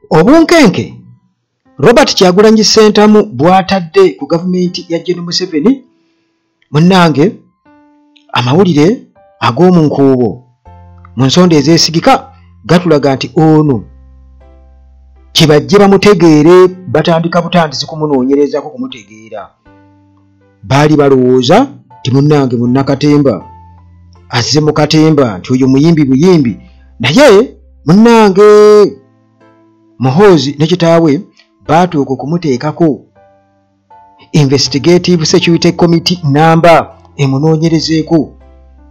obunkenke robert kyagulanyi sentamu bwatadde ku gavumenti ya gen museveni munnange amawulire ag'omu nkuubo mu nsonda ezeesigika gatulaga nti ono kibajje bamutegeere batandika butandisi kumunoonyerezako kumutegeera baali balowooza nti munnange munnakatemba azze mu katemba nti oyo muyimbi buyimbi naye munnange muhoozi ne kitaawe baatuuka okumuteekako investigative security committee namba emunoonyerezeeko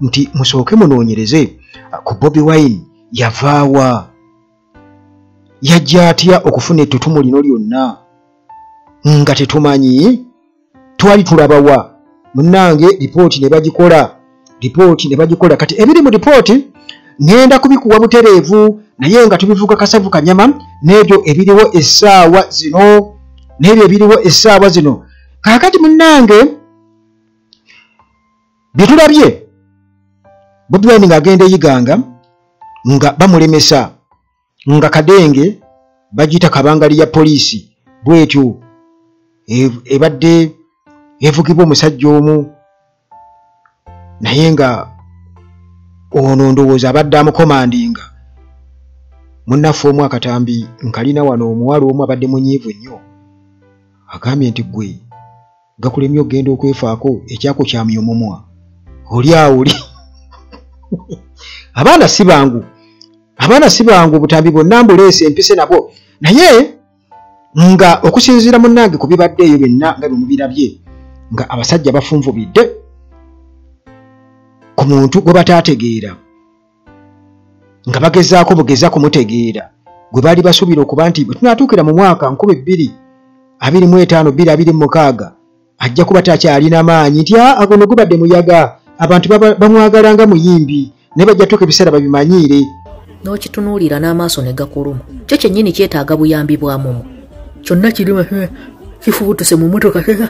nti musooke munoonyereze ku bobi wine yavaawa yajja atya okufuna ettutumu lino lyonna nga tetumanyi twali tulabawa munnange lipooti ne bagikola lipooti ne bagikola kati ebiri mu lipooti ŋenda kubikuwa butereevu naye nga tubivuga kasavu kanyama n'ebyo ebiriwo essaawa zino n'ebyo ebiriwo essaawa zino kaakati munnange byetulabye bobi wine nga agenda eyiganga nga bamulemesa nga kadenge bagiyita kabangali ya poliisi bwetyo e, ebadde evugibwa omusajja omu naye nga ono ndowooza abadde amukomandinga munnaffe omu akatambi nkalina wano omuwala omu abadde munyiivu nnyo agambye nti gwe gakulemye okugenda okwefaako ekyako kyamya omumwa oli awuli abaana si bangu abaana si bangu obutambi bwonna mbuleese empise nabwo naye nga okusinziira munnange ku bibadde eyo byonna nga bimubirabye nga abasajja bafunvubidde ku muntu gwe bataategeera nga bagezaako bugeza kumutegeera gwe baali basuubira okuba nti bwe tunaatuukira mu mwaka nkuba ebbiri abiri mu etaano bbiri abiri mu mukaaga ajja kuba takyalina maanyi nti ah, ago no gubadde muyaga abantu bamwagala nga muyimbi naye bajja tuuka ebiseera babimanyiire n'okitunuulira n'amaaso ne gakuluma kyo kyennyini kyetaaga buyambi bwa mumu kyonna kirima eh, kifubutuse mu motoka eh,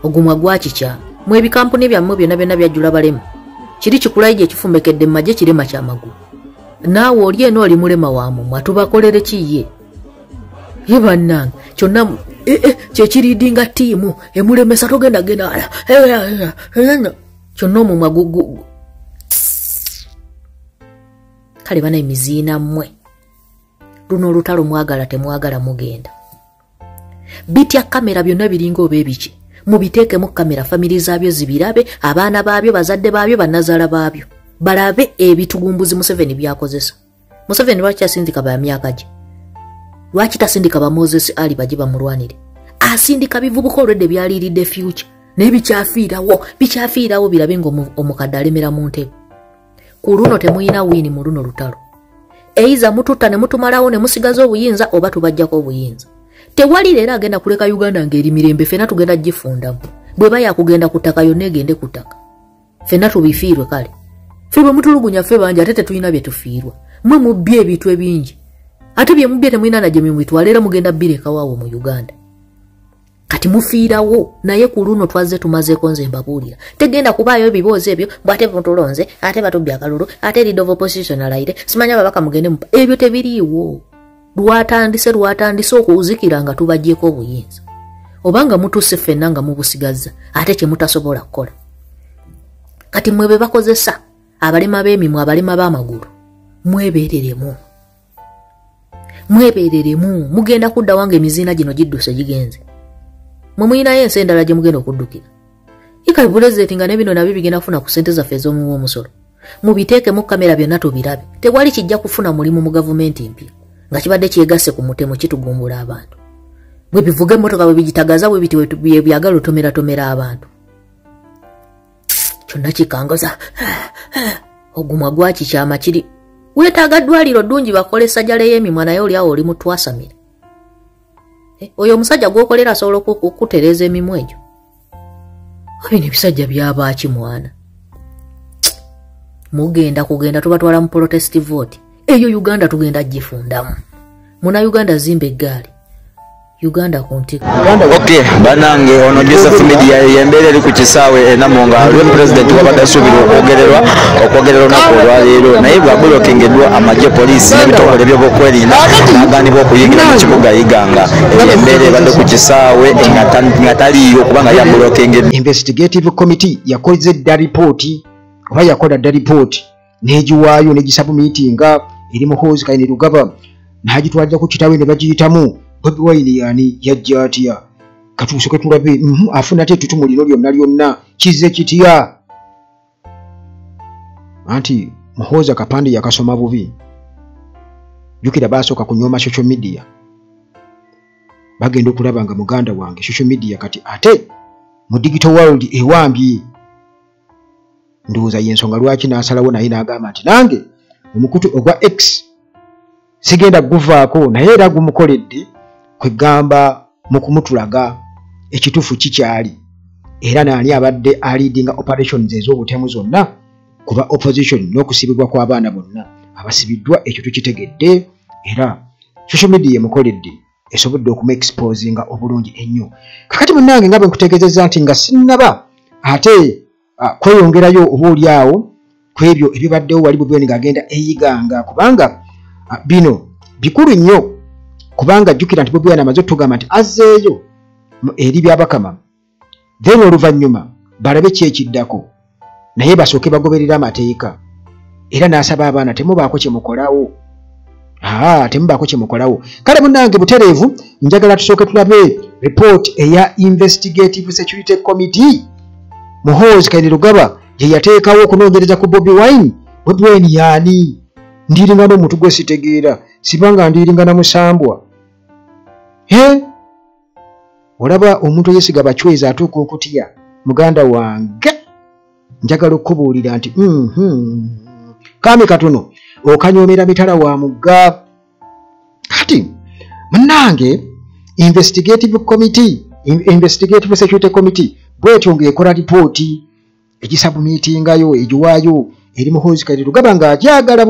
ogumwa gwakikya mwebikampuni byammwe byonna byonna byajjula balemu kiri kikulayi gye kifumbekedde mu magye kirema kya magulu naawe oli eno oli mulema wa mumwa tubakolere ki ye ye bannange kyonna e, e, kyekiriidinga tiimu emulemesa togenda genda wala e, kyonna omumwa gugugu kale bana emiziina mmwe luno olutalo mwagala temwagala mugenda bitya kamera byonna biringa oba ebiki mubiteekemu kamera famire zaabyo zibirabe abaana baabyo bazadde baabyo banazaala baabyo balabe ebitugumbuzi museveni byakozesa museveni lwaki asindika ba myaka gye lwaki tasindika ba moses ali baje bamulwanire asindika bivubuka olwedde byaliiridde fyuca naye bikyafiirawo bikyafiirawo birabe nga omukadde alemera mu ntebe ku luno temulina wiini mu luno lutalo eiza mututta ne mutumalawo ne musigaza obuyinza oba tubajjako obuyinza tewali leero agenda kuleka uganda ng'eri mirembe fena tugenda gifundamu bweba yakugenda ku ttaka yonna egende ku ttaka fena tubifiirwe kale fe bwe mutulugunya ffe bangi ate tetulina bye tufiirwa mwe mubbye ebintu ebingi ate bye mubbye temulina nagyo mwe mubitwala era mugenda birekawawo mu uganda kati mufiirawo naye ku luno twazze tumazeeko nze mbabuulira tegenda kubaayo ebiboozi ebyo bwate mutulonze ate batubbi akalulu ate lead of opposition alayire simanyi ababaka mugende mupa ebyo tebiriiwo lwatandise lwatandise okuzikira nga tubagyeko obuyinza obanga mutuuse ffenna nga mubusigazza ate kye mutasobola kukola kati mwe be bakozesa abalema b'emimwe abalema b'amagulu mwebeereremu mwebereremu mugenda kudda wange emiziina gino gidduse gigenze mwe muyinayo ensi endala gye mugenda okuddukira ikabulezeti nga nebino nabyo bigenda kufuna ku sente zaffe ez'omuwa omusolo mubiteekemu kamera byonna tubirabe tewali kijja kufuna mulimu mu gavumenti mpya nga kibadde kyegasse ku mutemu kitugumbula abantu bwe bivuga emmotoka bwe bigitagaza bwe biti byebyagala otomeratomera abantu kyonna kikangaza ogumwa gwaki kyama kiri weetaaga ddwaliro ddungi bakola essajala ey'emimwa naye olyawo oli mutwasamira eh, oyo omusajja gw'okolera asobola okukutereeza emimwa egyo bino ebisajja byabaaki mwana mugenda kugenda tubatwala mu protest vote eyo uganda tugenda gifundamu muna uganda zimba eggaali uganda ku ntiko ok banange ono joseph media yembeera eri ku kisaawe enamo nga lwe pulezidenti wabadde asuubira okwogererwa okwogerera olunaku olwaleero naye bwabulokingeddwa amagye poliisi n'ebitongole byobokwerinda aganibwa okuyingira mu kibuga iganga embeera ebadde ku kisaawe nga taliiyo kubanga yabulokingeddwa investigative committee yakoze dda ripooti oba yakola dda ripooti n'egiwaayo n'egisabumiitinga eri muhoozi kayine lugaba n'agitwalira ku kitawe ne bagiyitamu bobi wayini yaani yajja atya katuusoke tulabe mhm, afuna ate etutumu lino lyonna lyonna kizze kitya anti muhoozi akapande yakasoma bubi jukira baasooka kunyooma social media bagenda okulaba nga muganda wange social media kati ate mu digital world ewambye ndowooza yensonga lwaki n'asalawo naye n'agamba nti nange omukutu ogwa x sigenda guvaako naye era gumukoledde kwegamba mu kumutulaga ekituufu kikyali era naani abadde aliidinga operations ez'obutemu zonna kuba opposition n'okusibibwa kw'abaana bonna abasibiddwa ekyo tukitegedde era social media emukoledde esobodde okuma exposinga obulungi ennyo kakati munange nga bwe nkutegeezezza nti nga sinnaba ate ah, kweyongerayo oba oli awo ku ebyo ebibaddewo wali bubeni ng'agenda eyiganga kubanga ah, bino bikulu nnyo kubanga jjukira nti bubeni amaze otugamba nti azzeeyo eri byabakama then oluvannyuma balabe ki ekiddako naye basooke bagoberera amateeka era n'asaba abaana temubaako kye mukolawo aa temubaako kye mukolawo kale munnange butereevu njagala tusooke tulabe report eya investigative security committee muhoozi kaine lugaba gye yateekawo okunoonyereza ku bobi wine bobi wine yaani ndiiringa n'omuntu gwe sitegeera sibanga ndiiringa na musambwa he olaba omuntu eyesiga bacwezi atuuka okutya muganda wange njagala okukubuulira nti mm-hmm. kami katono okanyoomera mitala wa mugga kati munange investigative committee investigative security committee bwetyo ngaekola lipooti egisabumitingayo egiwaayo eri muhoozi kati tugamba nga agyagala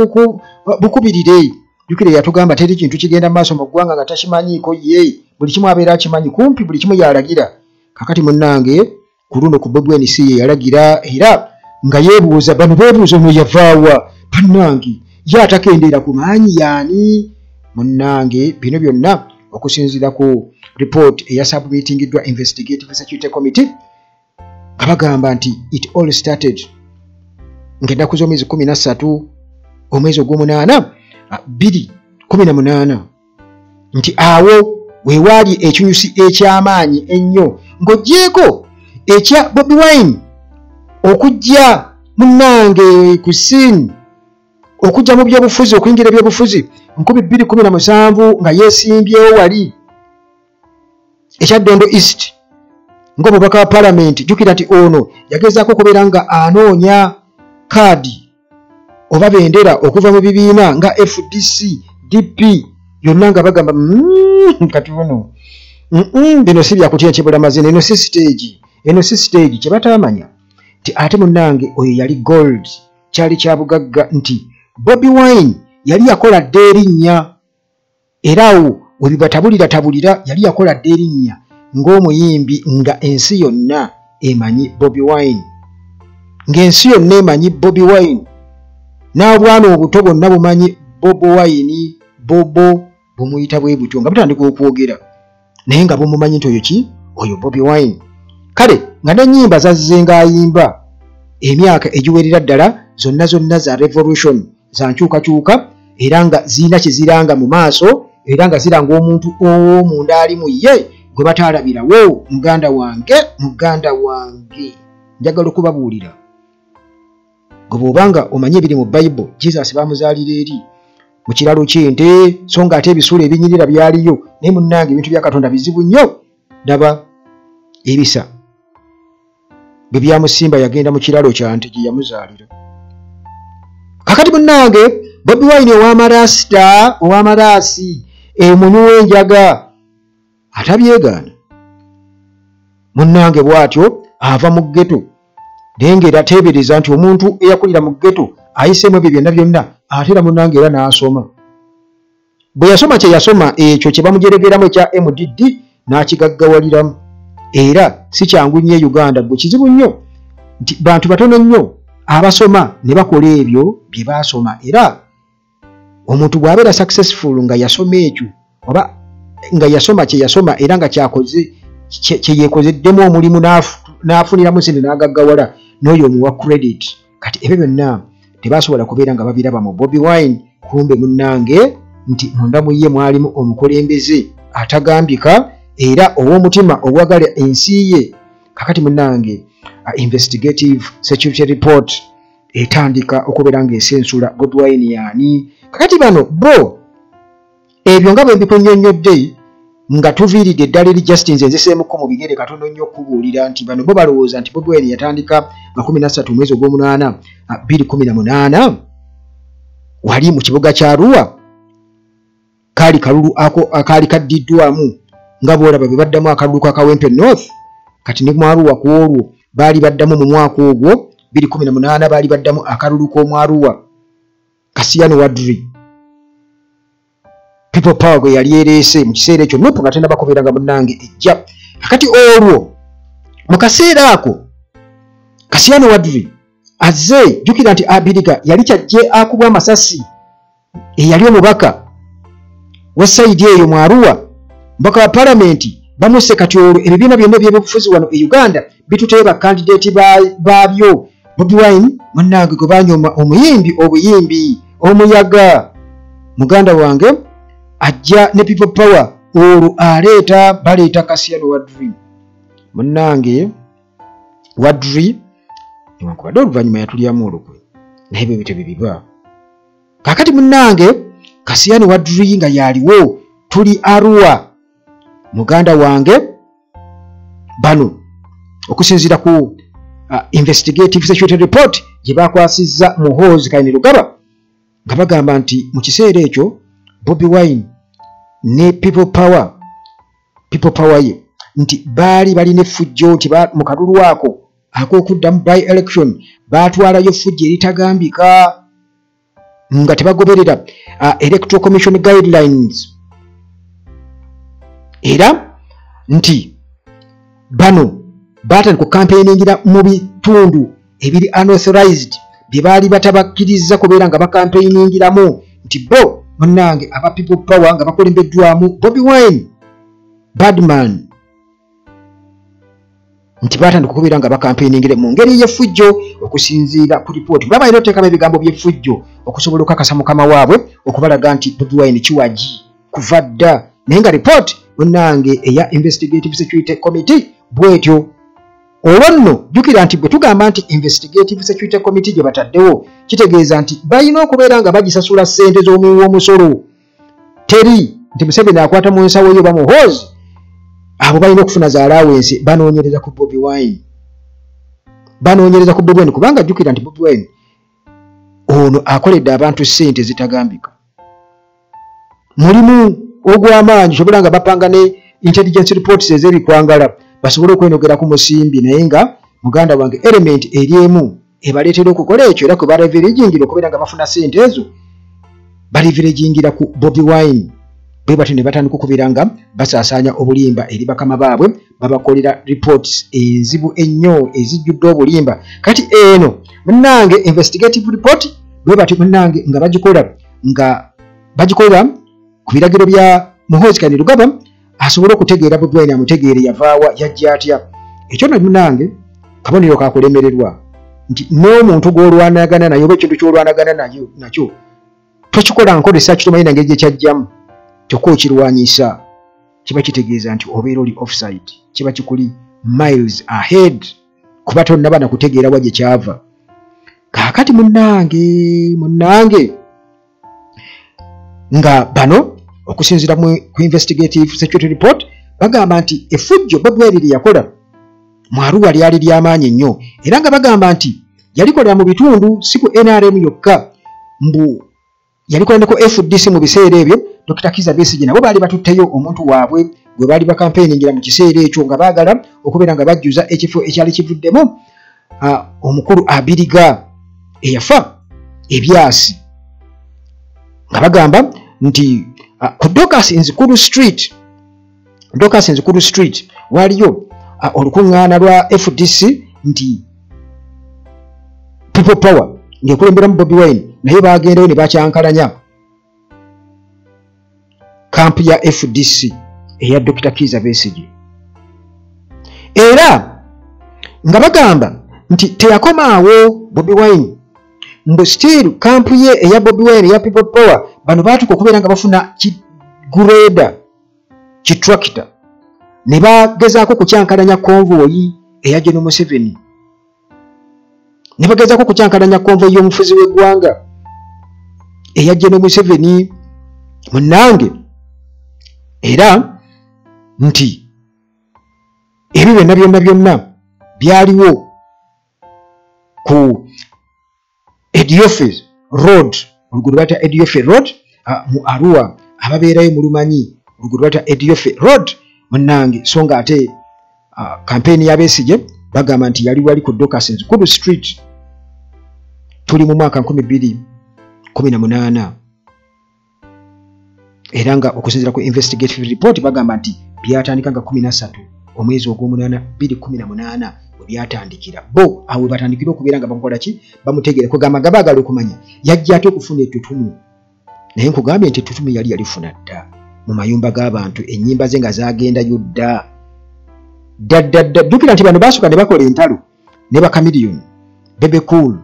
bukubirire jukire yatugamba teri kintu kigenda mu maaso mu ggwanga nga takimanyiiko ye buli kimu abeera akimanyi kumpi buli kimu yalagira kakati munnange ku luno ku bobweni si ye yalagira era nga yeebuuza bano beebuuza ono yavaawa bannange ye atakendeera ku maanyi yaani munnange bino byonna okusinziira ku report eyasabumitingiddwa investigative security committee abagamba nti it all started ngaennaku z'omwezi kumi na ssatu omwezi ogw'omunaana bbiri kumi na munaana nti awo wewaali ekinyusi eky'amaanyi ennyo ng'ogyeko ekya bobi wine okujja munnange ku sin okujja mu byobufuzi okuyingira ebyobufuzi nkumi bbiri kumi na musanvu nga yeesimbyewo wali ekya dondo east ngaomubaka wa palamenti jukira nti ono yagezaako okubeera nga anoonya kaadi oba bendera okuva mu bibiina nga fdc dp yonna nga bagamba mm, kati ono bino si byakutya kibulamaziina eno si siteegi eno si siteegi kye bataamanya nti ate munnange oyo yali gold kyali kya bugagga nti bobi wine yali yakola dda erinnya era awo we bibatabulira tabulira yali yakola dda erinnya ng'omuyimbi nga ensi yonna emanyi bobi wine ng'ensi yonna emanyi bobi wine n'obwana obuto bwonna bumanyi bobo wine bobo bumuyita bwe butyo nga butandika okwogera naye nga bumumanyi nti oyo ki oyo bobi wine kale nga nenyimba zazze ngaayimba emyaka egiwerera ddala zonna zonna za revolution za nkyukakyuka era nga zirina kyeziranga mu maaso era nga ziranga omuntu owomunda ali mu ye gwe bataalabirawo muganda wange muganda wange njagala okubabuulira gwe bwoba nga omanyi ebiri mu bible jesus bamuzaalira eri mu kiralo kyente so nga ate ebisuula ebinyirira byaliyo naye munnange ebintu bya katonda bizibu nnyo daba ebisa bwe byamusimba yagenda mu kiralo kyante gye yamuzaalira kakati munnange bobi wine owamaraasita owamaraasi emunyuwa enjaga atabyegaana munnange bw'atyo ava mu ggeto naye ng'era teebereza nti omuntu eyakulira mu ggeto ayiseemu ebyo byonna byonna ate era munnange era n'asoma bwe yasoma kye yasoma ekyo kye bamujeregeramu ekya mdd n'akigaggawaliramu era si kyangu nnyo e uganda gwe kizibu nnyo nti bantu batono nnyo abasoma ne bakola ebyo bye baasoma era omuntu bw'abeera successful nga yasoma ekyo oba nga yasoma kye yasoma era nga kyakoze kye yeekozeddemu omulimu n'afuniramu sente n'agaggawala n'oyo omuwa credit kati ebyo byonna tebasobola kubeera nga babiraba mu bobi wine kumbe munnange nti munda mu ye mwalimu omukulembeze atagambika era ow'omutima ogwagala ensi ye kakati munnange investigative security report etandika okubeera ng'ensi ensula godwine yaani kakati bano bo ebyo nga bwe mbikunyonnyodde nga tuviiridde eddala eri justin nze nziseemukko mu bigere katono nnyo okukubuulira nti bano bo balowooza nti godwine yatandika nga kumi nassatu omwezi ogw'omunaana ah, bbiri kumi na munaana wali mu kibuga kya ruwa kaali kalulu ako akaali kaddiddwamu nga bwolaba be baddamu akalulu ka kawempe north kati ne mwaruwa ku olwo baali baddamu mu mwaka ogwo 218 baali baddamu akalulu k'omwaruwa kasiyano wadri people power gwe yali ereese mu kiseera ekyo nup nga tena bakubeeranga munnange ejja akati olwo mu kaseera ako kasiyano wadri azze jjukira nti abiriga yali kyajje akubwa amasasi eyali omubaka wa sayidi eyo mu aruwa mbaka wa palamenti bamuse kati olwo ebibiina byonna ebyebufuzi wano e uganda bituteyo bakandideeti baabyo bobi wine munange gwe banyoma omuyimbi obuyimbi omuyaga muganda wange ajja ne people power olwo aleeta baleeta kasiyano wadri munange wadri newankubadde oluvannyuma yatulyamu olukwe naye bwe bityo bye biba kakati munange kasiyani wadri nga yaliwo tuli arua muganda wange bano okusinziira ku uh, investigative security report gye bakwasizza muhoozi kaini lugaba nga bagamba nti mu kiseera ekyo bobi wine ne people power people power ye nti baali balina effujjo nti mu kalulu ako ak'okuddamu by election baatwalayo effujja eritagambika nga tebagoberera uh, electoral commission guidelines era nti bano baatandika okukampeyningira mu bitundu ebiri unauthorized bye baali batabakkiriza kubeera nga bakampeyiningiramu nti bo munnange aba people power nga bakulembeddwamu bobi wine badman nti baatandika okubeera nga bakampeiningire mu ngeri y'effujjo okusinziira ku lipooti baba era oteekamu ebigambo by'effujjo okusobola okukakasa mukama waabwe okubalaga nti bobi wine kiwagi kuva dda naye nga lipooti munnange eya investigative security committee bwetyo olwo nno jjukira nti bwe tugamba nti investigative security committee gye bataddewo kitegeeza nti balina okubeera nga bagisasula ssente z'omuwi w'omusolo teri nti museveni akwata mu nsawo yo bamuhoozi abo balina okufuna za alawensi banoonyereza ku bobi wine banoonyereza ku bobi wine kubanga jjukira nti bobi wine ono akoledde abantu ssente zitagambika mulimu ogw'amaanyi sobola nga bapanga ne intelligence reports ez'ebikwangala basobole okwenogera ku musimbi naye nga muganda wange element eri emu ebaleetera okukola ekyo era kwe baleverejingira okubeera nga bafuna sente ezo baleverejingira ku bobi wine bwe batyo ne batandika okubeera nga basaasaanya obulimba eri bakama baabwe babakolera reports enzibu ennyo ezijjudde obulimba kati eno munange investigative report bwe batyo munange nga bagikola nga bagikolera ku biragiro bya muhoozi kanirugaba asobole okutegeera bobi wine amutegeere yavaawa yajja atya ekyo no munange kabonero kakulemererwa nti n'omuntu gw'olwanagana naye oba ekintu ky'olwanagana nayo nakyo tokikola nkozesa kitomanyi nange gye kyajjamu kyokka okirwanyisa kiba kitegeeza nti obeera oli offside kiba kikuli miles ahead kuba tonnaba na kutegeera wa gye kyava kaakati munnange munnange nga bano okusinzira ku investigative security report bagamba nti efujjo bobweri lye yakola mu aruwa lyali lyamaanyi nnyo era nga bagamba nti yalikolera mu bitundu si ku nrm yokka mbu yalikola ne ku fdc mu biseera ebyo dr kiza besigi nabo baali batutteyo omuntu waabwe gwe baali bakampeyingira mu kiseera ekyo nga baagala okubeera nga bajjuza ekifo ekyali kivuddemu omukulu abiriga eyafa ebyasi nga bagamba nti ku docas nzikulu street docas nzikulu street waliyo olukuŋŋaana lwa fdc nti people power ng'ekulemberamu bobi wine naye bagendayo ne bakyankalanya kampu ya fdc eya dokita kiiza besigi era nga bagamba nti teyakomaawo bobi wine mbu still kampu ye eya bobi wine eya people power bano baatuka okubeera nga bafuna kigureda kitrakita ne bagezaako okukyankalanya konvoyi eya geno museveni ne bagezaako okukyankalanya konvo y'omufuzi w'eggwanga eyajja ne museveni munnange era nti ebyo byonna byonna byonna byaliwo ku ediofe road oluguudo lwata ediofe road uh, mu arua ababeerayo mulumanyi oluguudo lwata ediofe road munange so nga ate uh, kampeyini yabesigye bagamba nti yali wali ku docasins kudu street tuli mu mwaka 218 era nga okusinzira ku investigative report bagamba nti byatandika nga 13 omwezi ogw'omunaana 218 we byatandikira bo awo batandikira okubeera nga bamukola ki bamutegeera kwegamba nga baagala okumanya yajja ate okufuna ettutumu naye nkugambye nti ettutumu yali yalifuna dda mu mayumba g'abantu ennyimba ze nga zagendayo dda ddaddadda jjukira nti bano baasooka ne bakola entalo ne bakamiliyoni bebecool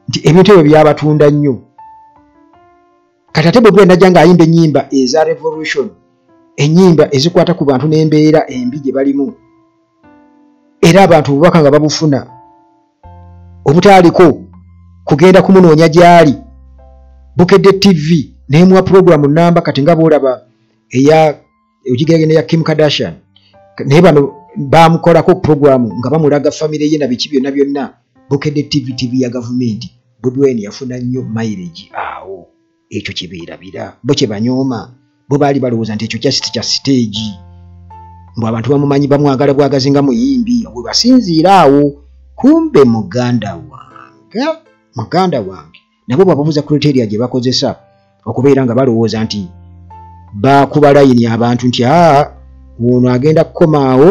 nti ebintu ebyo byabatunda nnyo kati ate bobi wine ajja nga ayimba enyimba eza revolution enyimba ezikwata ku bantu n'embeera embi gye balimu era abantu obubaka nga babufuna obutaaliko kugenda kumunoonya gy'ali bukedde tv nemuwa pulogulamu namba kati nga boolaba eya ogigerage neya kim kardashian naye bano bamukolako programu nga bamulaga famire ye na biki byonna byonna bukedde tv tv ya gavumenti budwen yafuna nnyo mairegi awo ekyo kyebeerabira bo kyebanyooma bo baali balowooza nti ekyo kyasiti kya siteegi mbu abantu bamumanyi bamwagala bwagazi nga muyimbi webasinziira awo kumbe muganda wange muganda wange nabo bababuza criteria gye bakozesa okubeera nga balowooza nti baakuba layini abantu nti aa ono agenda kukomaawo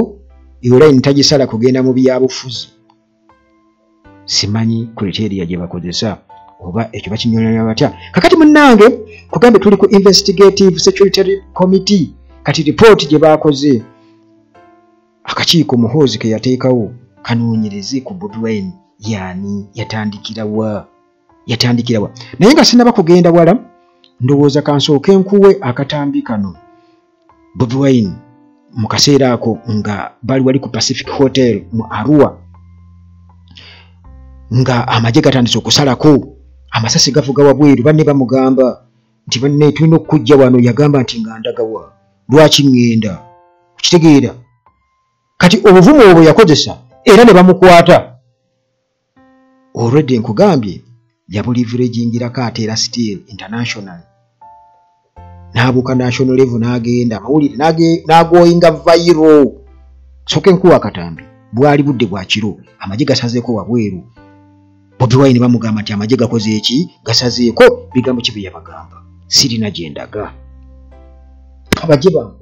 eyo layini tagisala kugenda mu byabufuzi simanyi criteria gye bakozesa oba ekyo bakinyonyola batya kakati munnange kugambe tuli ku investigative security committee kati ripooti gye baakoze akakiiko muhoozi ke yateekawo kanoonyereze ku bobi wine yaani yatandikirawa yatandikirawa naye nga sinaba kugenda wala ndowooza kansooke nkuwe akatambi kano bobi wine mu kaseera ako nga bali wali ku pacific hotel mu arua nga amagye gatandise okusalako amasasi gavuga wabweru banne bamugamba nti banne tulina okukujja wano yagamba nti nga ndagawa lwaki ŋŋenda okitegeera kati obuvumu obwo yakozesa era ne bamukwata olwedde nkugambye yabulivirejingirako ate era steel international n'abuuka national levo n'agenda amawulire n'agoyinga vairo soka enkuwa katambi bwali budde bwa kiro amagye gasazeeko wabweru bobi wine bamugamba nti amagye gakoze eki gasazeeko bigambo ki byeyabagamba sirina gyendaga abagye bangu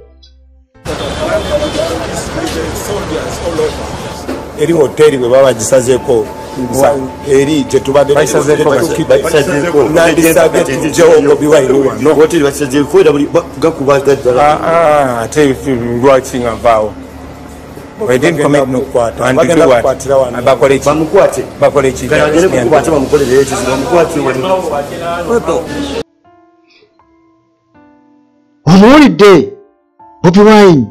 eri hoteri bwe baba bagisazeeko eri gyetubaddeate lwaki nga vaawo omuwulidde bobi wine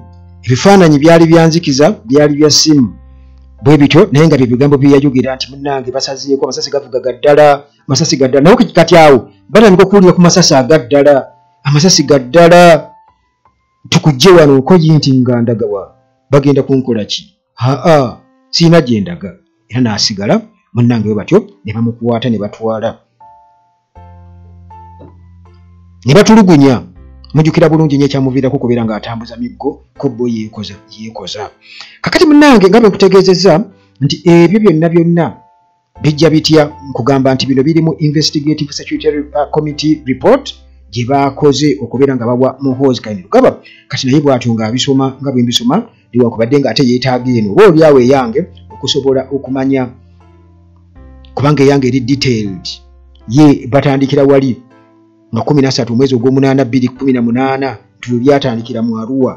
ebifaananyi byali byanzikiza byali bya simu bwe bityo naye nga byebigambo byeyayogera nti munange basazeeko amasasi gavuga gaddala amasasi gaddala naye kati awo batandika okuwulira ku masasi agaddala amasasi gaddala tukujje wano okoye nti ngandaga wa bagenda kunkola ki haa siina gye ndaga era n'asigala munnange we batyo ne bamukwata ne batwala ne batulugunya mujukira bulungi nyo ekyamuviirako okubeera ng'atambuza miggo ku bo yeekoza kakati munnange nga bwe nkutegeezezza nti ebyo byonna byonna bijja bitya nkugamba nti bino biri mu investigative security uh, committee report gye baakoze okubeera nga bawa muhoozi kainirugaba kati naye bwatyo ng'abisoma nga bwe mbisoma liwakubadde ng'ate yeetaaga eno oba olyawo eyange okusobola okumanya kubanga eyange eri detailed ye batandikira wali nga kumi nasatu omwezi ogw'omunaana bbiri kumi na munaana tuyo byatandikira mu aruwa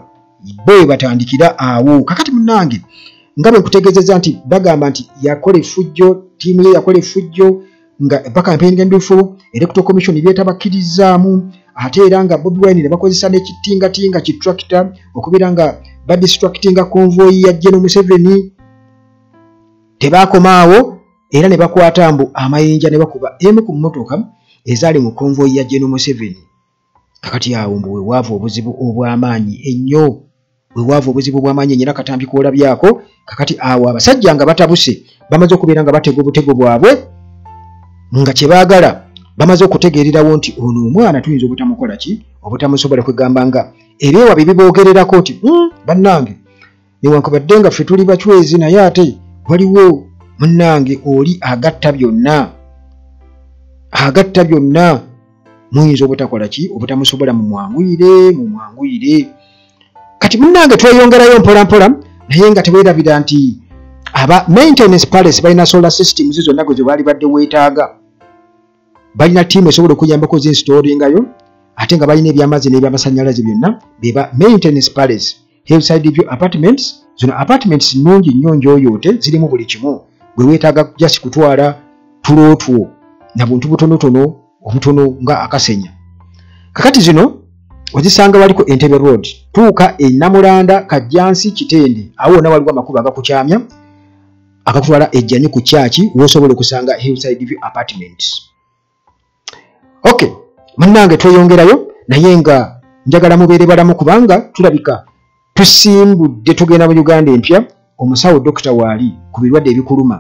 bo webatandikira awo kakati munange nga bwekutegezeza nti bagamba nti yakola efujjo tiimu ye yakola efujjo nga bakampeyingendufu electoral commission byetabakirizaamu ate era nga bobi wine nebakozesa nekitingatinga ki tractor okubeera nga badistractinga convoyi ya jeno museveni tebakomaawo era ne bakwata mbu amayinja ne bakuba emu ku mmotoka ezaali mu konvoyi ya jeno museveni kakati awo mbu wewaava obuzibu obw'amaanyi ennyo wewaava obuzibu obw'amaanyi ennyo era katambi kwolabyako kakati awo abasajja nga batabuse bamaze okubeera nga batega obutego bwabwe nga kye baagala bamaze okutegeererawo nti ono omwana tuyinza obutamukola ki obutamusobola kwegamba nga ebeewa bye biboogererako nti hmm, bannange newankubadde nga ffe tuli bacwezi naye ate waliwo munnange oli agatta byonna agatta byonna muyinza obutakola ki obutamusobola mumwanguyire mumwanguyire kati munnange tweyongerayo mpolampola naye nga tewerabira nti aba maintenance palace balina solar systems zonna gwe zebaali badde weetaaga balina tiimu esobola okuyambako zinstoolingayo ate nga balina ebyamazzi n'ebyamasanyalaze byonna beba maintenance palace hillside view apartments zino apartments nungi nnyo njoyoote zirimu buli kimu bwe weetaaga jasi kutwala tulootwo na buntu butonotono obutono nga akasenya kakati zino ozisanga waliko entebe road tuuka enamulanda kajjansi kitende awo wona waliwo amakubo agakukyamya agakutwala ejjanyi ku kyaki wosobola okusanga hillside view apartments ok munange tweyongerayo naye nga njagala mubeere balamu kubanga tulabika tusimbudde tugenda mu uganda empya omusawo dokita waali ku birwadde ebikuluma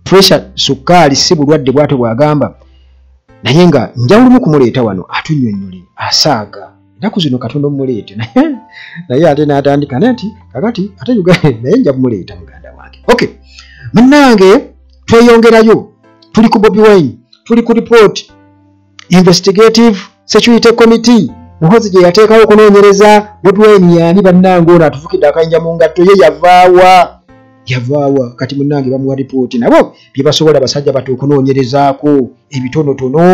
pressure sukkaali si bulwadde bwatyo bwagamba naye nga njawulumu kumuleeta wano atunyonnyole asaaga ennaku zino katonda omuleete naye ate n'atandika naye nti kakati ate uganda naye nja kumuleeta muganda wange ok munnange tweyongerayo tuli ku bobi wine tuli ku report investigative security committee muhozi gye yateekawo okunoonyereza bobi wine yaani bannange ono atufukidde akayinja mu ngatto ye yavaawa yavaawa kati munnange bamuwa ripooti nabo bye basobola basajja bati okunoonyerezaako ebitonotono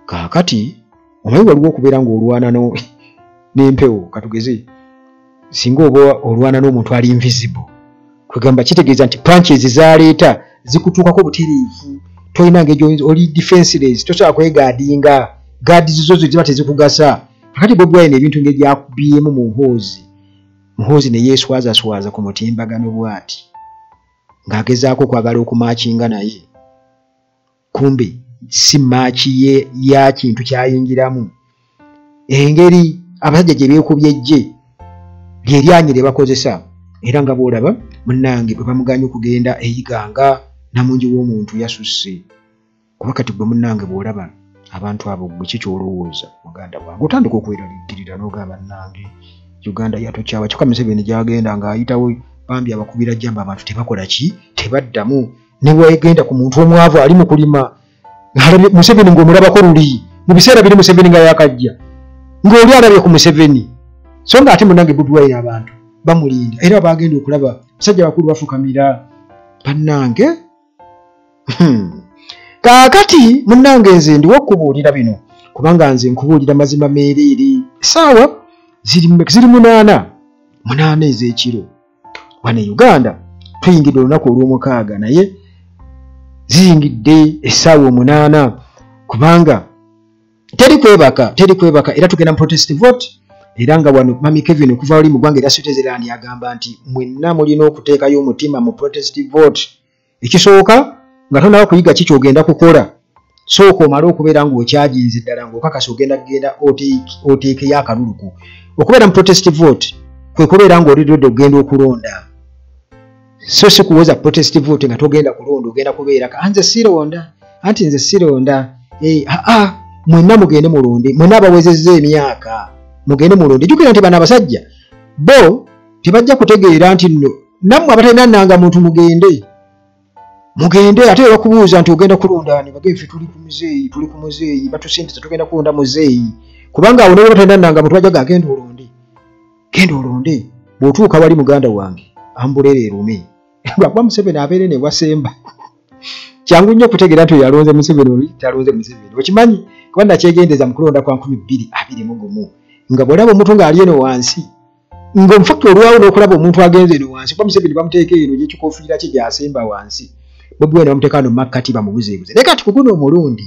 kaakati omanyi waliwo okubeera ng'olwana n'empewo katugeze singa oba olwana n'omuntu ali invisible kwegamba kitegeeza nti punches zaleeta zikutuukako butereevu tolina ngejo oli defenseless tosobola kwegaadinga gaadi zizo zo ziba tezikugasa kakati bobwaine ebintu ngegyakubyemu mu hoozi muhoozi ne yeeswazaswaza ku mutimbagano bwati ng'agezaako okwagala okumakinga naye kumbe si maaki ye ya kintu kyayingiramu engeri abasajja gye beekubye ejje lyeryanyi lye bakozesa era nga bwolaba munange bwe bamuganye okugenda eyiganga namungi w'omuntu yasusse kuba kati gwe munange bwolaba abantu abo gwe ki kyolowooza muganda wange otandika okweraliikirira n'ogamba nange uganda yatokyawa kyokka museveni gyagenda ng'ayitawo bambi abakubira jamba abantu tebakola ki tebaddamu newegenda ku muntu omwavu ali mu kulima alabye museveni ngaomulabako luli mu biseera biri museveni nga yakajja ngaoli alabye ku museveni so nga ate munange budwaire abantu bamulinda era bagenda okulaba basajja bakulu bafukamira bannange hmm. kaakati munange nze ndiwo okubuulira bino kubanga nze nkubuulira mazima meereere esaawa ziri munaana munaana ez'ekiro wano e uganda tuyingidde olunaku olw'omukaaga naye ziyingidde essaawa omunaana kubanga teri kwebaka teri kwebaka era tugenda mu protest vote era nga wano mami kevin okuva wali mu ggwanga era sitezerani agamba nti mwenna mulina okuteekayo omutima mu protest vote ekisooka nga tonawo kuyiga ki kyogenda kukola sooka omale okubeera ngaokyaginzi ddala ngaokakasa ogenda kugenda oteekeyo akaluluku okubeera mu protest vote kwe kubeera ngaoli redi okugenda okulonda so si kuwoza protest vote nga togenda kulonda ogenda kubeera anze sironda anti nze sironda eh, aa mwenna mugende mulonde mwenna abawezezza emyaka mugende mulonde jukira nti bano abasajja bo tebajja kutegeera nti nno nammwe abatalina nanga muntu mugende mugende ate era kubuuza nti ogenda kulondaani bagee fe tuli ku muzeeyi tuli ku muzeeyi batusindiza tugenda kulonda muzeeyi kubanga awo nawe batalina nanga muntu ajaga agenda olonde genda olonde bw'otuuka wali muganda wange ambuleera erume lwakuba museveni abeere ne wasemba kyangu nnyo okutegeera nti oyo alonze museveni oli talonze museveni okimanyi kuba nakyegendeza mu kulonda kwa nkumi bbiri abiri mu gumu nga bw'olaba omuntu ng'ali eno wansi nga omufakti olwawo nokulaba omuntu agenze eno wansi kuba museveni bamuteeka eno gyekikofiira kye gyasemba wansi bobi wine bamuteeka no makkati bamubuzebuze naye kati kuguno omulundi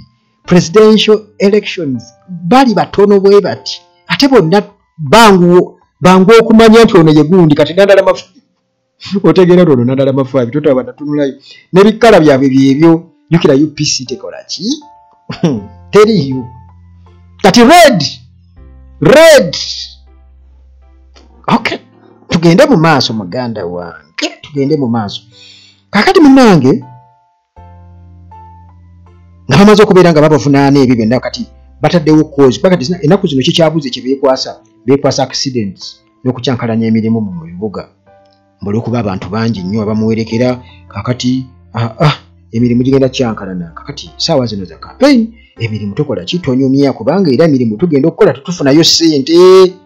presidential elections bali batono bwe bati ate bonna banguwo bangu okumanya nti ono yegundi kati nandala mafu otegeera lwono nadala mafaabi totaba natunulayo nebikkala byabwe byebyo jukira upc tekola ki teri yo kati red red ok tugende mu maaso muganda wange tugende mu maaso kakati munange nga bamaze okubeera nga babavunaana ebyo byonna kati bataddewo kozi kuba kati enaku zino kikyabuze kye beekwasa beekwasa accidents n'okukyankalanya emirimu mu bibuga mbuli okuba abantu bangi nnyo abamuwerekera kakati aa ah, ah, emirimu gigenda kyankalana kakati saawa zino za campaign emirimu tukola ki tonyumya kubanga era emirimu tugenda okukola tetufunayo sente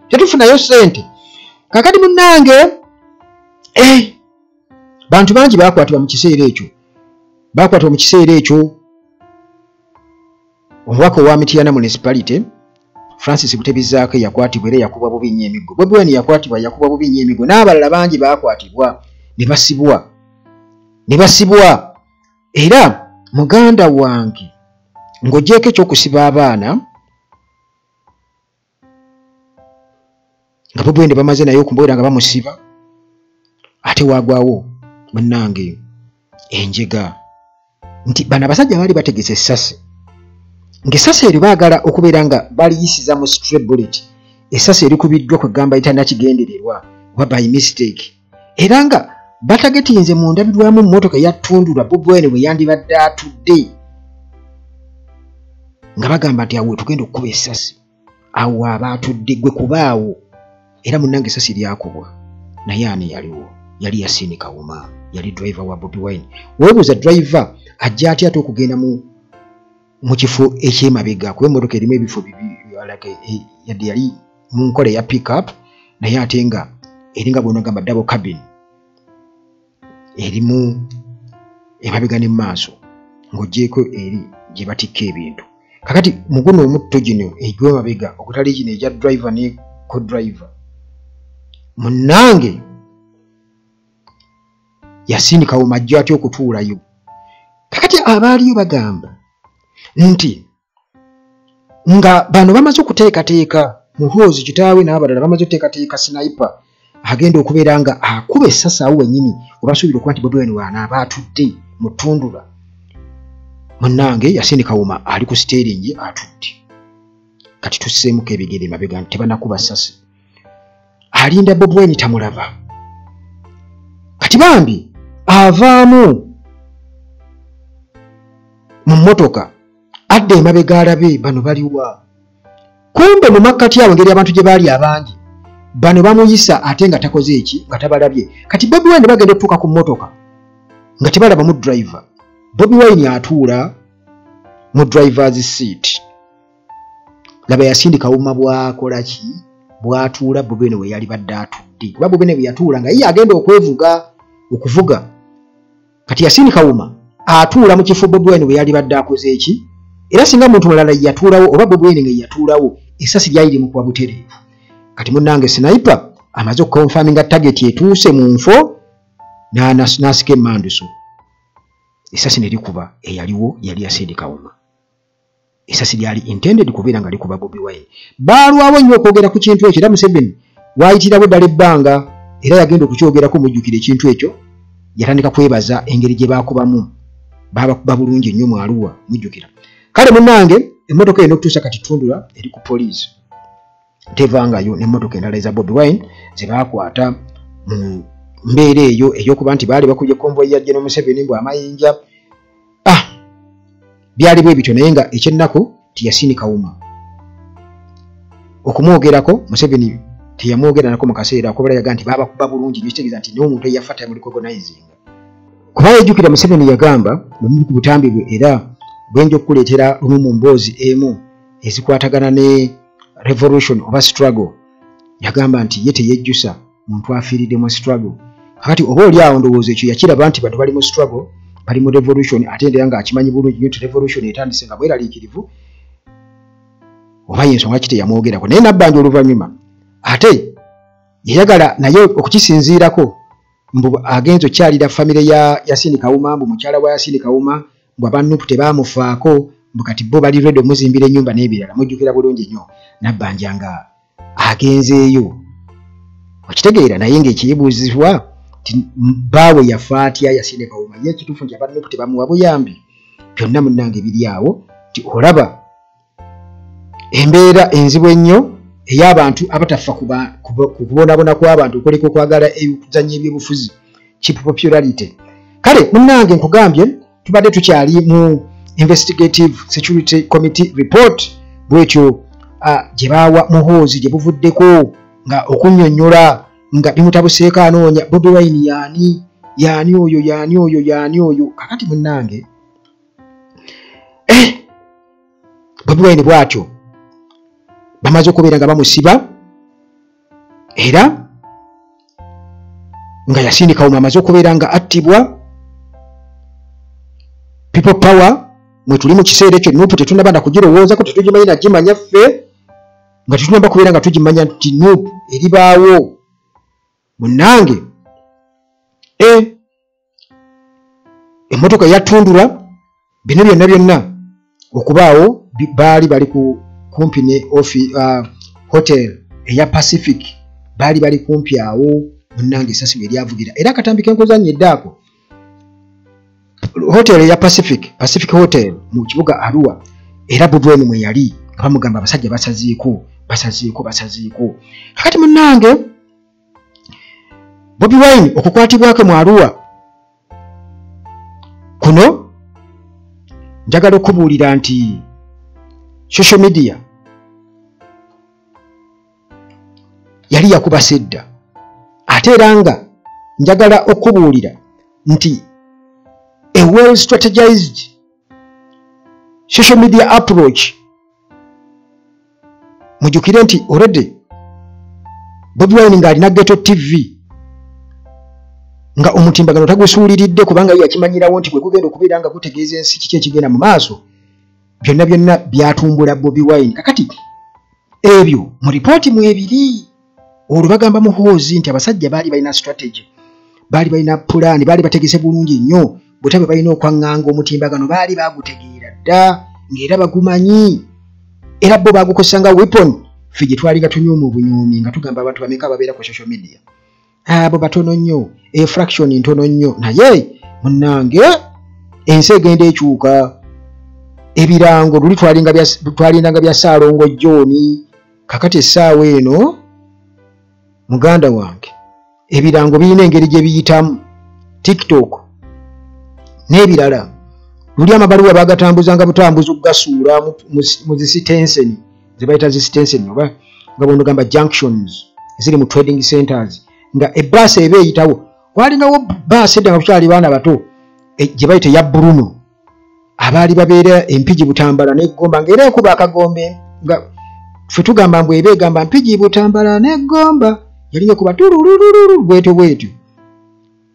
tetufunayo sente kakati munange eh, bantu bangi bakwatibwa mu kiseera ekyo bakwatibwa mu kiseera ekyo omubaka owa mitiyana municipality francis butebizaako eyakwatibwa era yakubwa bubi nnyo emiggo bobi wine yakwatibwa yakubwa bubi nnyo emiggo n'abalala bangi bakwatibwa ne basibwa ne basibwa era muganda wange ng'ogyeko ekyokusiba abaana nga bobwende bamaze naye okumboera nga bamusiba ate wagwawo munange enjega nti bano abasajja baali bategese esasi ngaesasi eryo baagala okubeera nga baliyisiza mu strebullet esasi erikubiddwa kwegamba itanakigendererwa oba by mistake era nga batagetinze mu ndabirwamu mmotoka yattundulwa bobwene bwe yandibadde atudde nga bagamba nti awo wetugenda okukuba essasi awo aba atudde gwe kubaawo era munange essasi lyakubwa naye ani yaliwo yali yasiini kawuma yali drive wa bobi wine webuuza drive ajja atya ate okugenda mu mu kifo ekyemabega kuba emmotoka erimu ebifo bibi yadde yali mu nkola eya pickup naye ate nga eringa bwenagamba double cabin erimu emabega ne maaso ng'ogyeko eri gye batikka ebintu kakati muguno omutto gino egy'emabega okutali gino egya driver ne co driver munnange yasindikawo majjo atya okutuulayo kakati abaaliyo bagamba nti nga bano bamaze okuteekateeka muhoozi kitaawe n'abalala bamaze okuteekateeka sinipe agenda okubeera nga akuba essasi awo wenyini webasuubira okuba nti bobiwine waana aba atudde mu ttundula munnange yasini kawuma ali ku siteeringi atudde kati tusseemuko ebigere mabega nti tebanakuba ssasi alinda bobiwine tamulaba kati bambi avaamu mu mmotoka adda emabega alabe bano baliwa kumbe mu makkati awo ngeri abantu gye baali abangi bano bamuyisa ate nga takoze eki nga tabalabye kati bobi wine bagenda otuuka ku mmotoka nga tebalaba mu driver bobi wine atuula mu drivers seat laba yasindika wuma bwakola ki bwatuula bobi wine weyali badde atudde kuba bobi wine bweyatuula nga ye agenda okwevuga okuvuga kati yasini kawuma atuula mu kifo bobwine bwe yali badde akoze eki era singa muntu mulala yatuulawo oba bobwine nga yatuulawo esasi lyali limukuba butereevu kati munange sinaipa amaze okukonfaminga tageti etuuse mu nfo n'asika emanduso esasi ne likuba eyaliwo yali yasindikawuma esasi lyali intended kubeera nga likuba bobi wine baalwawo nnyo okwogera ku kintu ekyo era museveni waayitirawo eddala ebbanga era yagenda okukyogerako mujjukira ekintu ekyo yatandika kwebaza engeri gye baakubamu baabakuba bulungi nnyo mu aluwa mujjukira kale munange emmotoka eno okutuusa kati tundula eri ku poliisi tevangayo nemotoka endala eza bobi wine zebakwata mu mbeera eyo eyokuba nti baali bakubye konvoyi ya jeno museveni mbu amayinja ah byali bwe bityo naye nga ekyennaku tiyasini kawuma okumwogerako museveni teyamwogeranako mu kaseera okubala yaga nti babakuba bulungi nyo kitegeeza nti naye omuntu eyafa tamulicogonizing kuba yejjukira museveni yagamba bumu ku butambi bwe era bwenja okukuleetera lumu mu mboozi emu ezikwatagana ne revolution oba struggle yagamba nti ye teyejjusa muntu afiiridde mu struggle kakati oba oli awo ndowooza ekyo yakiraba nti bantu bali mu struggle bali mu revolution ate ndera nga akimanyi bulungi nyo nti revolution etandise nga bweraliikirivu oba yensonga ki teyamwogerako naye nabbanja oluvannyuma ate yayagala naye okukisinziirako mbu agenza okukyalira famire ya yasini kawuma mbu mukyala wa yasini kawuma mbu aba nup tebaamufaako mbu kati bo bali redi omuzimbira ennyumba n'ebirala mujjukira bulungi nnyo nabbanja nga agenzeeyo okitegeera naye ng'ekiyibuuzibwa ti baawe yafa atya yasinde kawuma ye ekituufu nti aba nup tebamuwa buyambi byonna munnange biri awo nti olaba embeera enzibu ennyo ey'abantu abataffa ku kubonabona kw'abantu okuleka okwagala okuzanya ebyobufuzi kip popularity kale munnange nkugambye tubadde tukyali mu investigative security committee report bwetyo gye baawa muhoozi gye buvuddeko nga okunyonyola nga bimutabuseeko anoonya bobi wine yaani yaani oyo yaani oyo yaani oyo kakati munnange eh! bobi wine bwatyo bamaze okubeera nga bamusiba era nga yasindikawo mwamaze okubeera nga attibwa people power mwetuli mu kiseera ekyo nupu tetunaba nakugirowoozako tetugimanyi nagimanya ffe nga tetunaba kubeera nga tugimanya nti nupu eribaawo munange e eh! emmotoka yatundula bino byonna byonna okubaawo baali bali ku kumpi ne ofi uh, hotel eya pacific baali bali kumpi awo munnange esasi lwe lyavugira era akatambi kenkoza nnyo eddaako hotel eya pacific pacific hotel mu kibuga arua era budwenu mwe yali nga bamugamba abasajja basaziiko basaziiko basaziiko kakati munnange bobi wine okukwatibwakwe mu aruwa kuno njagala okubuulira nti social media yali yakuba sedda ate era nga njagala okubuulira nti a well strategized social media approach mujukire nti already bobi wine nga alina geto tv nga omutimbagano tagusuuliridde kubanga yakimanyirawo nti gwegugenda okubeera nga gutegeeza ensi kiki ekigenda mu maaso byonna byonna byatumbula bobi wine kakati ebyo mu ripooti mwebiri olwo bagamba muhoozi nti abasajja baali balina strategy baali balina pulaani baali bategese bulungi nnyo butya bwe balina okwaŋŋanga omutimbagano baali baagutegeera dda ng'era bagumanyi era bo baagukozesa nga weapon ffe gye twali nga tunyuuma obunyuumi nga tugamba abantu bameka ababeera ku social media abo batono nnyo efraction ntono nnyo naye munnange ensi egenda ekyuka ebirango luli twalindanga bya saalongo jooni kakati essaawa eno muganda wange ebirango birina engeri gye biyitamu tiktok n'ebirala luli amabaluwa bagatambuzanga butambuzi okugasuula mu zisitenseni ze bayita zisitenseni oba nga bwonogamba junctions eziri mu trading centers nga ebbaasi eba eyitawo walingawo bbaasi edda nga kukyali baana bato e, gye bayita eya bruno abaali babeera empigi butambala negomba nga era ekuba akagombe nga fe tugamba mbu eba egamba mpigi butambala negomba yali ekuba tululululu bwetyo bwetyo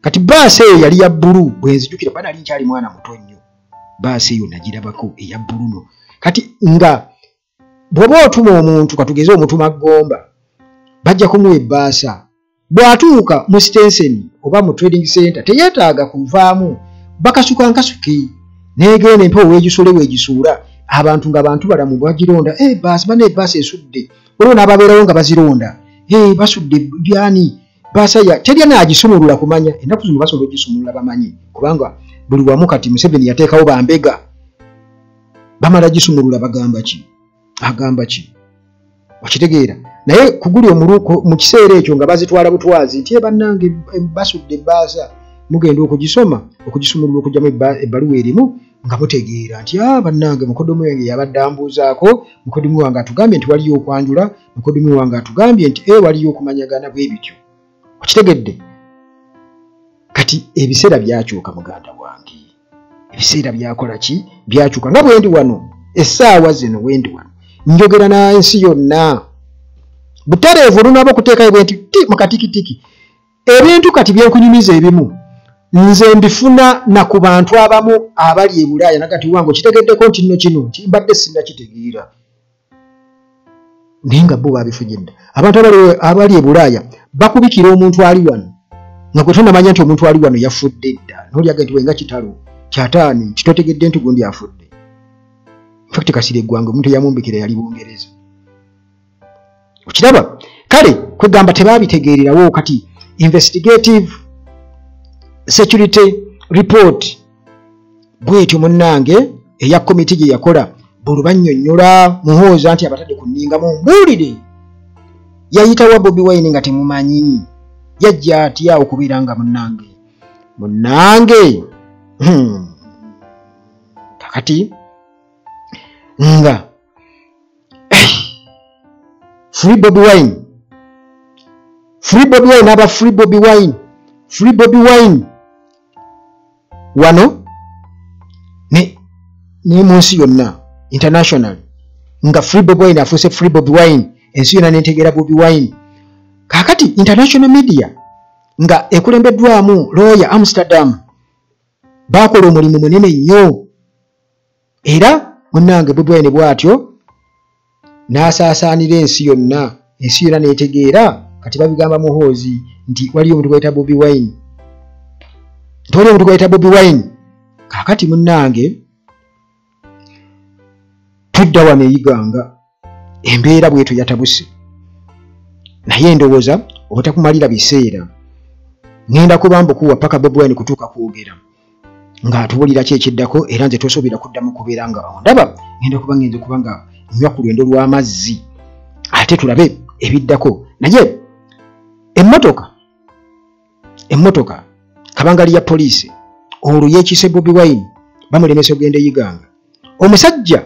kati baasi eyo yali ya bbulu bwenzijukira kuba nali nkyali mwana muto nnyo baasi eyo nagirabako eya bbuluno kati nga bwoba otuma omuntu katugeze omutuma gomba bajja kumuwa ebbaasa bw'atuuka mu sitenseni oba mu trading center teyetaaga kuvaamu bakasuka nkasuki negenda empewo wegisule wegisuula abantu nga bantu balamu bagironda eh, baasi bana ebaasi esudde olwo n'ababeerawo nga bazironda eh, basudde byani basaya teri anagisumulula kumanya enaku zino basobola ogisumulula bamanyi kubanga buli wamu kati museveni yateekawo bambega bamala gisumulula bagamba ki agamba ki okitegeera naye kuguli omuluko mu kiseera ekyo nga bazitwala butwazi nti ebannange eh, basudde ebbaasa mugenda okugisoma okugisumulula okugyamu ebbaluwa erimu nga mutegeera nti a ah, bannange mukodomu yange yabadde ambuuzaako mukodomu wange atugambye nti waliyo okwanjula mukodumi wange atugambye nti e waliyo okumanyagana bwe bityo okitegedde kati ebiseera byakyuka muganda wange ebiseera byakola ki byakyuka nga bwendi wano essaawa zino wendi wano njogera na ensi yonna butereevu olunaba okuteekayo bwenti ti mukatikitiki ebintu kati byenkunyumiza ebimu nze mbifuna na ku bantu abamu abali e bulaaya nagati wange okitegeddeko nti nno kino nti mbadde sinnakitegeera naye nga bo babifujidde abantu abali ebulaaya bakubikira omuntu ali wano nga gwe tonamanya nti omuntu ali wano yafudde dda nolyaga nti wenga kitalo kyataani kitotegedde nti gundi afudde fact kasira eggwanga omuntu eyamumbikira yali bungereza okiraba kale kwegamba tebabitegeererawo kati investigative security report bwetyo munnange eya komiti gye yakola bulubannyonnyola muhooza nti abatadde ku nninga mumbuulire yayitawa bobi wine nga temumanyi yajja atya okubeera nga munnange munnange hmm. kakati nga eh, free bobi wine free bobi wine aba free bobi wine free bobi wine wano ne ne munsi yonna international nga free bob wine afuuse free bob wine ensi yonna nentegeera bobi wine kakati international media nga ekulembeddwamu looya amsterdam baakola omulimu munene nnyo era munnange bubwene bw'atyo n'asaasaanira ensi yonna ensi yonna n'etegeera kati babigamba muhoozi nti waliyo omuntu gwayita bobi wine nti waliyo omuntu gwayita bobi wine kaakati munnange tudda wano eyiganga embeera bwetyo yatabuse naye endowooza obutakumalira biseera ngenda kubambukuwa paka bobwine kutuuka kwogera ng'atubulira ki ekiddako era nze tosuubira kuddamu kubeera nga ondaba ngenda kuba ngenze kuba nga nywa ku lwendo lw'amazzi ate tulabe ebiddako naye emmotoka emmotoka kabangali ya poliisi olwo yekiise bobi wine bamulemesa okugenda eyiganga omusajja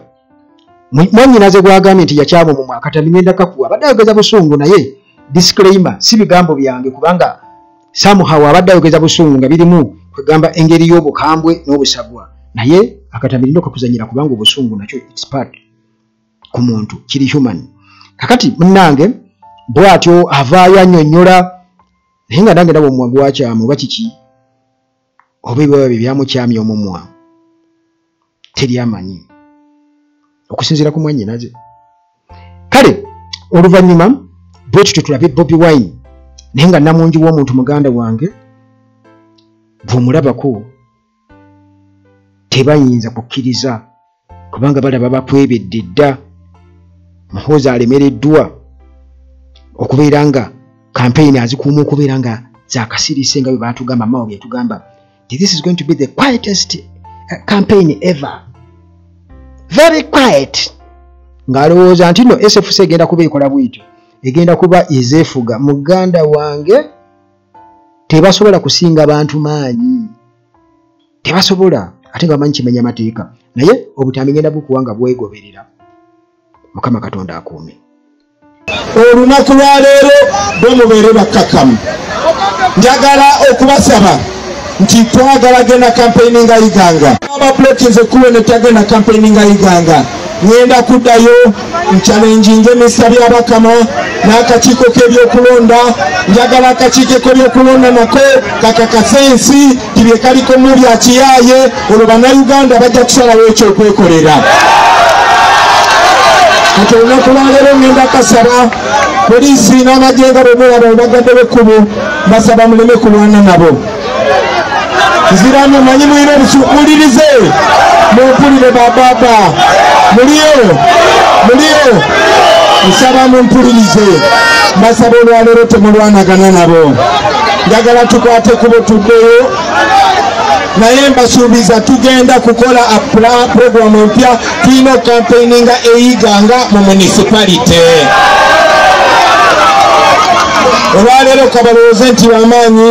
mwanyinaze gwagambye nti yakyama mu mwaka tamimenda kakuwa abadde ayogeza busungu naye disclaimer si bigambo byange kubanga samuhaw abadde ayogeza busungu nga birimu kwegamba engeri y'obukambwe n'obusagwa naye akatamirindo kakuzanyira kubanga obusungu nakyo its part ku muntu kiri human kakati munange bwatyo avaayo anyonyola naye nga nange nabo omumwa gwakyamu oba kiki oba ebiwaba bye byamukyamya omumwa teri amanyi okusinziira ku mwanyinaze kale oluvannyuma bwe tutyo tulabe bobi wine naye nga namungi w'omuntu muganda wange bw'omulabako tebayinza kukkiriza kubanga balaba bakwebedde dda muhoozi alemereddwa okubeera nga kampeyini azikuuma okubeera nga zakasirise nga bwe batugamba mawo byetugamba this is going to be the quietest uh, campaign ever very quiet ng'alowooza nti no sfc egenda kuba ekola bwityo egenda kuba ezeefuga muganda wange tebasobola kusinga bantu maanyi tebasobola ate nga bamanyi kimenya mateeka naye obutambi ngenda bukuwa nga bwegoberera mukama katonda akuume olunaku lwaleero bwe mubeere bakkakkamu njagala okubasaba nti twagala genda kampeyini nga iganga ababulokinze kuwe netagenda kampeyini nga iganga ŋenda kuddayo nkyalenjinga emisita byabakama n'akakiiko k'ebyokulonda njagala akakiiko k'ebyokulonda nako kakakasa ensi ti bye kaliko mu bya kiyaaye olwo bannayuganda bajja kusalawo ekyokwekolera kati olunaku lwaleero ngenda kasaba poliisi n'amagyenga bwe mulaba obagadde b'ekkubo basaba muleme kulwana nabo nziramu manyi mulina obusukulirize mumpulire bababa muliyo muliyo nsaba mumpulirize mbasaba olwaleero temulwanagana nabo njagala tukwate kubo tuddeyo naye mbasuubiza tugenda kukola puroguramu empya tulina okukampeininga eyiga nga mu municipality olwaleero kabalowooze nti bamaanyi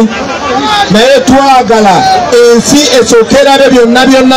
naye twagala ensi ekyokerabe byonna byonna